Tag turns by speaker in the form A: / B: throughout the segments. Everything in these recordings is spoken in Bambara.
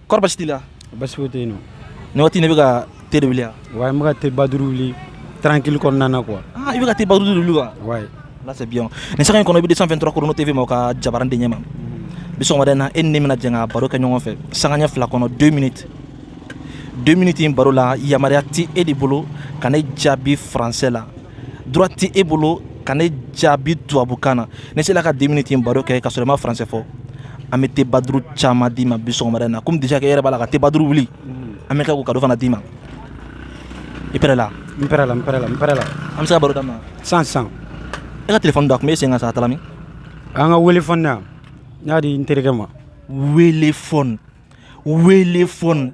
A: kɔrɔ basi t'i la basi foyi tɛ yen
B: nɔ nin waati ne bɛ
A: ka te de wuli yan ouais n bɛ ka te ba
B: duuru wuli tranquille kɔnɔna na quoi ah i bɛ ka te ba duuru de wuli
A: wa ouais là c'est bien nin sanga in kɔnɔ i bɛ 223 chrono tv ma o ka jabaran de ɲɛma bi sɔgɔmada in na e ni ne bɛna jɛ ka baro kɛ ɲɔgɔn fɛ sanga ɲɛ fila kɔnɔ 2 minutes 2 minutes in baro la yamaruya tɛ e de bolo ka ne jaabi français la droit tɛ e bolo ka ne jaabi tubabukan na n'i sela ka deux minutes in baro kɛ ka sɔrɔ i ma faransɛ fɔ an bɛ te baduru caman d'i ma bi sɔgɔmada in na comme déjà que e yɛrɛ b'a la ka te baduru wuli an bɛ kɛ k'o kado fana d'i ma i pɛrɛ la n pɛrɛ la n pɛrɛ la n
B: pɛrɛ la an bɛ se ka baro
A: daminɛ sisan
B: e ka
A: telefɔni don a tun bɛ e sen kan sa a taara min an ka wele
B: fɔni na n y'a di n terikɛ ma wele
A: fɔni wele fɔni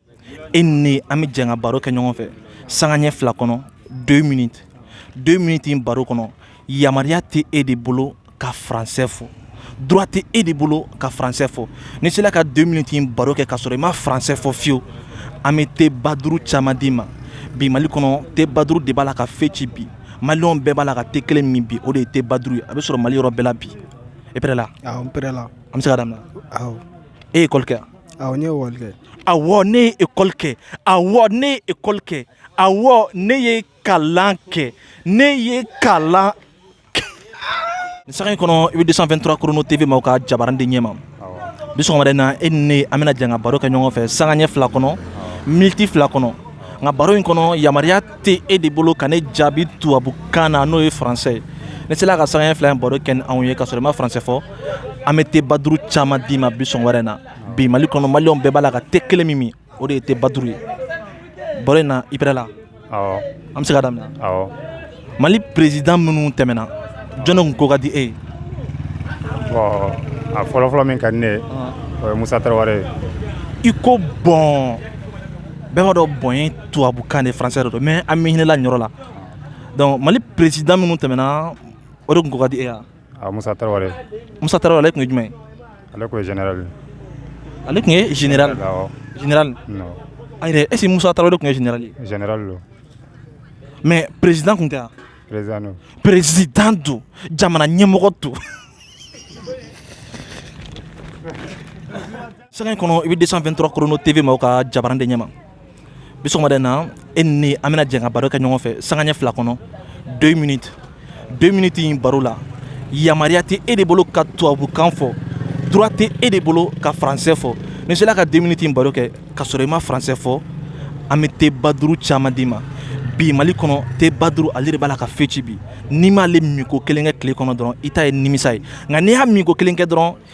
A: e ni an bɛ jɛn ka baro kɛ ɲɔgɔn fɛ sanga ɲɛ fila kɔnɔ deux minutes deux minutes in baro kɔnɔ yamaruya tɛ e de bolo ka faransɛ fɔ droit tɛ e de bolo ka faransɛ fɔ n'i sera ka deux minutes in baro kɛ k'a sɔrɔ i ma faransɛ fɔ fiyewu an bɛ te ba duuru caman d'i ma bi mali kɔnɔ te ba duuru de b'a la ka fɛn ci bi maliyɛnw bɛɛ b'a la ka te kelen min bi o de ye te ba duuru ye a bɛ sɔrɔ mali yɔrɔ bɛɛ la bi e pɛrɛ la an bɛ
B: se ka daminɛ e ye école
A: kɛ wa awɔ n ye école kɛ
B: awɔ ne
A: ye ekɔli kɛ awɔ ne ye ekɔli kɛ awɔ ne ye kalan kɛ ne ye kalan kɛ nin sanga in kɔnɔ i bɛ 223 chrono tv ma o ka jabarani de ɲɛma bi wɛrɛ na e ni ne an bɛna jɛn ka baro kɛ ɲɔgɔn fɛ sanga ɲɛ fila kɔnɔ miniti fila kɔnɔ nka baro in kɔnɔ yamaruya tɛ e de bolo ka ne jaabi tubabukan na n'o ye faransɛ ye n'i sela ka sanga ɲɛ fila in baro kɛ n'anw ye ka sɔrɔ i ma faransɛ fɔ an bɛ te baduru caman d'i ma bi wɛrɛ na bi mali kɔnɔ maliyɛnw bɛɛ b'a la ka te kelen min min o de ye te baduru ye baro in na i pɛrɛ la an bɛ se
C: ka daminɛ mali
A: perezidan minnu tɛmɛna jɔni kun ko ka di e ye
C: bon a fɔlɔfɔlɔ min ka di ne ye o ye musa tarawele ye i
A: ko bon bɛɛ b'a dɔn bon ye tubabukan de faransɛ de don mais an bɛ hinɛ i la nin yɔrɔ la donc mali perezidan minnu tɛmɛna o de kun ko ka di e ya a musa
C: tarawele musa tarawele ale tun
A: ye jumɛn ye ale tun ye
C: général ale tun
A: ye général général
C: a yɛrɛ
A: est-ce que musa tarawele tun ye général ye général don mais président tun tɛ wa président don président don jamana ɲɛmɔgɔ don Sanga in kɔnɔ i bɛ 223 chrono TV ma o ka jabarani de ɲɛma bi sɔgɔmada in na e ni ne an bɛna jɛ ka baro kɛ ɲɔgɔn fɛ sanga ɲɛ fila kɔnɔ 2 minutes 2 minutes in baro la yamaruya tɛ e de bolo ka tubabukan fɔ droit tɛ e de bolo ka français fɔ n'i sera ka 2 minutes in baro kɛ ka sɔrɔ i ma français fɔ an bɛ te ba duuru caman d'i ma bi mali kɔnɔ te ba duuru ale de b'a la ka fɛn ci bi n'i m'ale minko kelen kɛ tile kɔnɔ dɔrɔn i ta ye nimisa ye nka n'i y'a minko kelen kɛ dɔrɔn